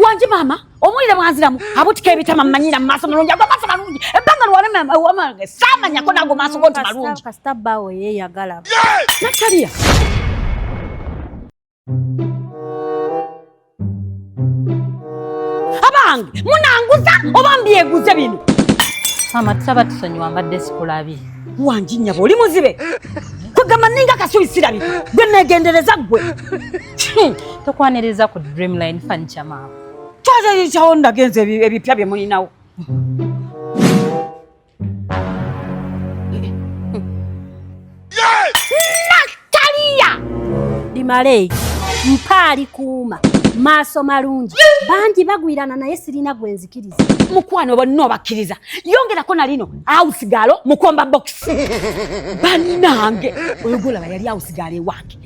Wanji mama, omulire mwanziramu abutika ebitama manyira mu maaso malungi ago maaso malungi ebbanga luwalema wamange saamanya ko nago maaso go nti malungi kasita bbaawo yeeyagala nataliya abange munanguza oba mbyeguze bino maama tusaba tusonyiwa mbadde sikulabi wanji nyabo oli muzibe kwegamba ninga kasubi sirabi gwe neegendereza ggwe Hmm, tokwaniriza ku dreamline furniture maama kyazayicawo ndagenza ebipya bye mulinawo nataliya dimaleyi mpaali kuuma maaso malungi bangi bagwirana naye sirina gwe nzikiriza mukwano bonna obakkiriza yongerako na lino awusigalo mukomba bokisi bannange oyo gwolaba yali awusigalo ewange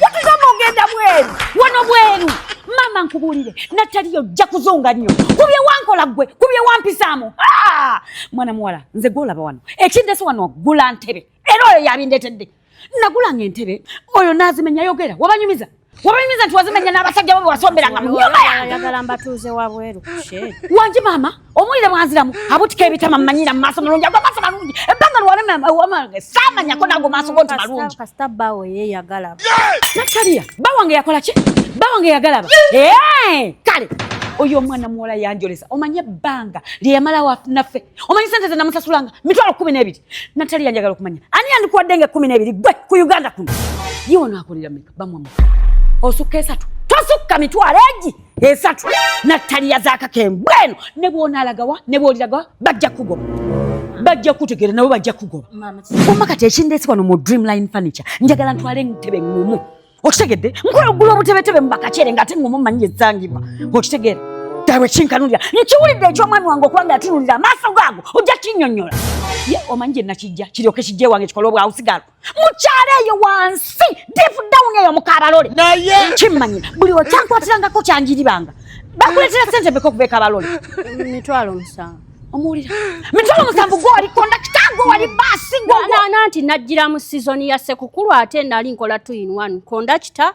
yatugamba ogenda bweru wano bweru maama nkubuulire nataliyo ojja kuzunga nnyo kubye wankola ggwe kubye wampisaamu ah! mwana muwala nze gwolaba wano ekindese wano ogula ntebe era oyo yabindetedde nagulanga entebe oyo nazimenya yogera wabanyumiza wabayimiza nti wazimenya n'abasajja bo bewasomberanga mu nyumba yangeayagala mbatuuze wabweru wangi maama omulire bwanziramu abutika ebitama mumanyira mu maaso malungi ago maaso malungi ebbanga lwalemawamage saamanyako naago maaso go nti malungi kasita bawo yeyagala nataliya bawange yakola ki bawange yagalaba kale oyo omwana muwala yanjolesa omanye ebbanga lyeyamalawo naffe omanyi sente ze namusasulanga mitwalo kumi n'ebiri nataliya njagala okumanya ani yandikuwadde nga ekumi n'ebiri gwe ku uganda kuno yiwono akolera bamwe osukka esatu tosukka mitwalo egi esatu nattaliya zakakembwe eno ne bwonalagawa ne bwoliragawa bajja kugoba bajja kutegeera nabo bajja kugoba omma kati ekindeesi wano mu dreamline furniture njagala ntwale entebe ŋŋumu okitegedde nkola ogula obutebetebe mu bakakyere nga ate ŋŋumu manyi ezangibwa okitegeera ddala ekinkanulira nkiwulidde eky'omwami wange okuba nga yatunulira amaaso gaago ojja kinyonyola ye omanyi gye nakijja kiryoke kijja ewange kikole obwawusigalo mukyalo eyo wansi deep down eyo mukabalole naye kimmanyi buli okyankwatirangako kyanjiribanga bakuletera sente beka okuva ekabalole mitwalo musanvu omuwulira mitwalo musanvu gwoli kondakita gwe wali baasi gwe nanti najjira mu sizoni ya sekukulu ate nali nkola two in one kondakita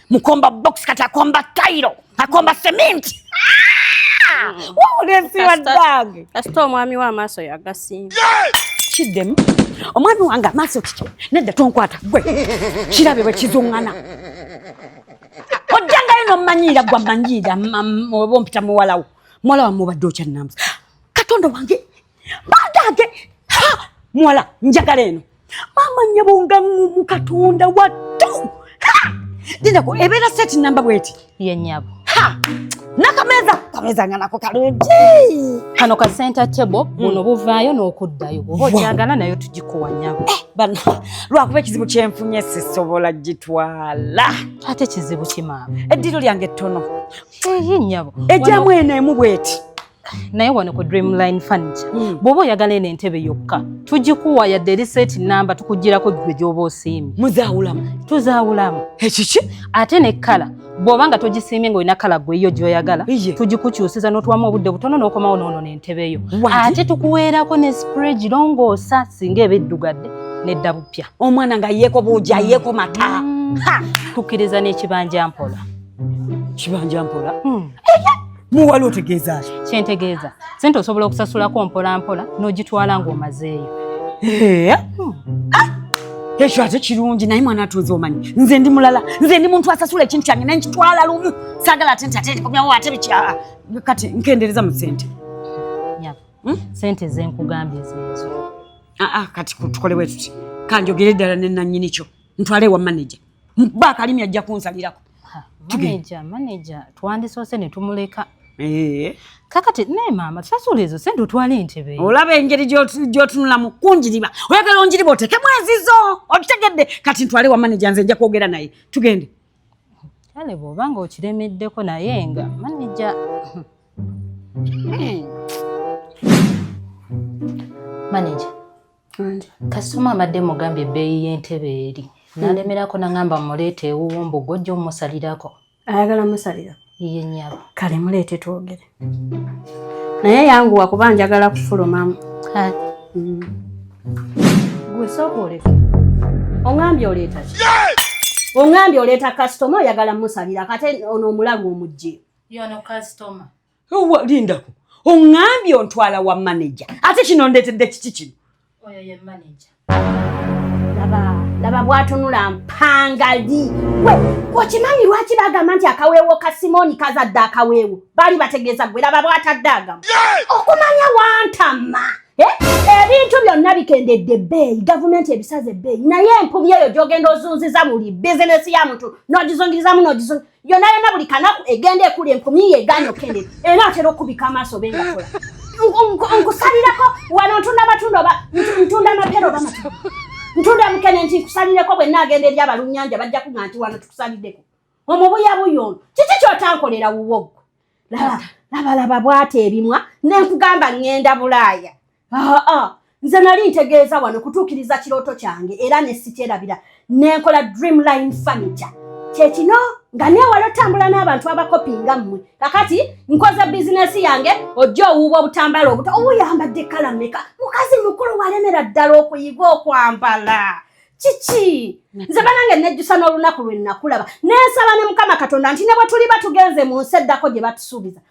Mkomba box kati akomba Cairo, akomba cement. Ah! Mm. Wawule si wa dag. Kasito omwami wa maso ya gasi. Kidem. Omwami wanga maso kike. Nedda tonkwata gwe. Kirabe bwe kizungana. Ojjanga yino manyira gwa manyira obompita muwalawo. Mwala wa mubadde okya nambs. Katondo wange bagage ha muwala njagala eno maama nyabo nga ngumu katonda wattu dinako ebeera seti namba bweti ye nyabo nakameza kameza nga nako kalungi kano ka center table hmm. buno buvaayo n'okuddayo bwoba okyagala nayo tugikuwa nyabo eh, bana lwakuba ekizibu kyenfunye sisobola gitwala ate kizibu kimaama eddiro lyange ettono ye nyabo ejjamu eno emu bweti naye wano ku dreamline furniture hmm. bwoba oyagala eno entebe yokka tugikuwa yadde eri seeti namba tukugirako gwe gyoba osiimye muzawulamu tuzawulamu ekiki ate ne kala bwoba nga togisiimye nga olina kala gweyo gyoyagala tugikukyusiza notuwamu obudde butono nokomawo noono nentebe yo ate tukuweerako ne spray girongoosa singa eba eddugadde nedda bupya omwana nga yeeko buuja yeeko mata hmm. tukkiriza n'ekibanja mpola kibanja mpola hmm. muwali otegeeza ki kyentegeeza sente osobola okusasulako mpolampola n'ogitwala ng'omazeeyo eh? ah! ekyo ate kirungi naye mwana atuuza omanyi nze ndi mulala nze ndi muntu asasula ekintu kyange naye nkitwala lumu saagala ate nti ate ndikomyawo ate bikyaa kati nkendereza mu sente hmm? sente zenkugambye zezo ah, ah, kati tukolewe tuti kanjogere ddala nenanyini kyo ntwale ewa manaja Mba kalimi ajja kunsalirako. Manager, manager, twandisoose ne tumuleka. Eh. Kakati naye maama tusasula ezo sente otwale entebe. Olaba engeri gy'otunula mu kunjiriba. Oyagala onjiriba otekemu ezizo. Otutegedde kati ntwale wa manager nze nja kwogera naye. Tugende. Kale bw'oba ng'okiremeddeko naye nga manager. Hmm. Manager. kasitoma mbadde mugambye ebbeeyi y'entebe eri nalemerako nangamba muleeta ewuwo mbu gwojja omusalirako ayagala musalira iye nyabo kale muleete twogere naye yanguwa kuba njagala kufulumamu mm. gwe sooka oleka ongambye oleeta ki ongambye oleeta kasitoma oyagala musalira kate ono omulagu omugye yono kasitoma Owa lindako. Ongambye ontwala wa manager. Ate kino ndetedde kiki kino? Oyo ye manager. Laba, laba bwatunula mpangali. We, okimanyi lwaki bagamba nti akaweewo ka Simoni kazadde akaweewo? Bali bategeeza gwe laba bwatadde agamu. Okumanya wantama. Eh? Ebintu byonna bikendedde ebbeeyi, gavumenti ebisaze ebbeeyi. Naye empumi eyo gy'ogenda ozunziza buli bizinesi ya muntu n'ogizungirizamu n'ogizungiriza. yona yona buli kanaku egenda ekuli enkumi ye egaana okukendera era atera okukubika amaaso be ngakola nkusalireko wano ntunda amatunda oba ntunda amapera oba matu ntunda mukene nti nkusalireko bwe naagenda eri abalunnyanja bajja kuga nti wano tukusaliddeko omubuyabuya ono kiki kyotankolera wuwo gwe laba laba laba bwati ebimwa nenkugamba ŋŋenda bulaaya aa nze nali ntegeeza wano kutuukiriza kirooto kyange era ne sikyerabira nenkola dream line furniture kyekino nga newala otambula n'abantu abakopi nga mmwe kakati nkoze bizinesi yange ojja owuuba obutambala obuto obuyambadde kala meka mukazi mukulu walemera ddala okuyiga okwambala kiki nze banange nejjusa n'olunaku lwe nakulaba nensaba ne mukama katonda nti ne bwe tuliba tugenze mu nsi eddako gye batusuubiza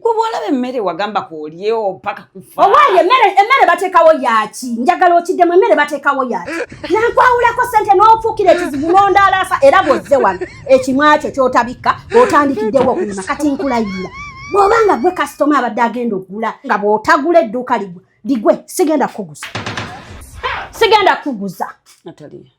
kuba olaba emmere wagamba kuolyewo paka kufa owaaye emmere bateekawo yaki njagala okiddemu emmere bateekawo yaki nakwawulako sente n'ofuukira ekizibu n'ondaalaasa era bwozze wano ekimwakyo kyotabikka otandikiddewo okulima kati nkulayira bw'oba nga gwe kasitoma abadde agenda okugula nga bw'otagula edduuka ligwe ligwe sigenda kukuguza sigenda kukuguza natali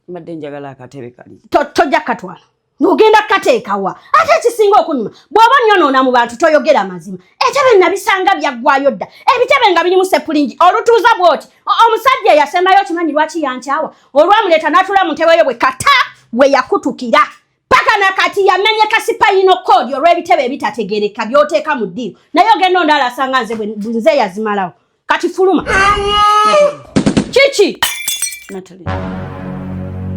mbadde njagala akatebe kali tojja katwala nogenda kukateekawa ate ekisinga okunyuma bw'oba nyonoona mu bantu toyogera mazima etebe nabisanga byaggwayo dda ebitebe nga birimu sepulingi olutuuza bw'oti omusajja eyasembayo okimanyi lwaki yankyawa olwamuleeta n'atula mu ntebe yo bwe kata we yakutukira paka na kati yamenye kasipayino koodi olw'ebitebe ebitategereka by'oteeka mu ddiiro naye ogenda ondaala asanga nze bwenze yazimalawo Kati fuluma. Chichi. Natalie.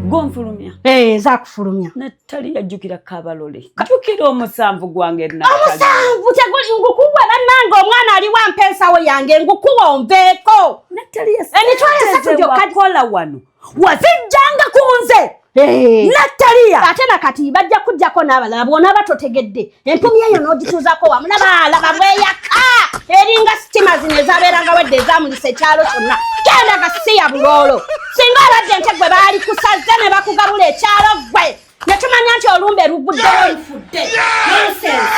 Go mfulumya. Eh, za kufulumya. Natalie yajukira kabalole. Kajukira omusanvu gwange na. Omusanvu teguli ngukubwa na nango omwana ali wa mpesa wo yange ngukuwa onveko. Natalie. Enitwale eh, satu jo kakola wano. wazijjanga ku nze eh. nataliya ate nakati bajja kujjako n'abalala bwonaaba totegedde empumi eyo n'ogituuzako wamu nabaalaba bweyaka eringa sitima zino ezabeeranga wedde ezamulisa ekyalo kyonna genda gasiya buloolo singa abadde nte gwe baali kusaze ne bakugabula ekyalo gwe ne tumanya nti olumbe luguddewo lufudde nonsense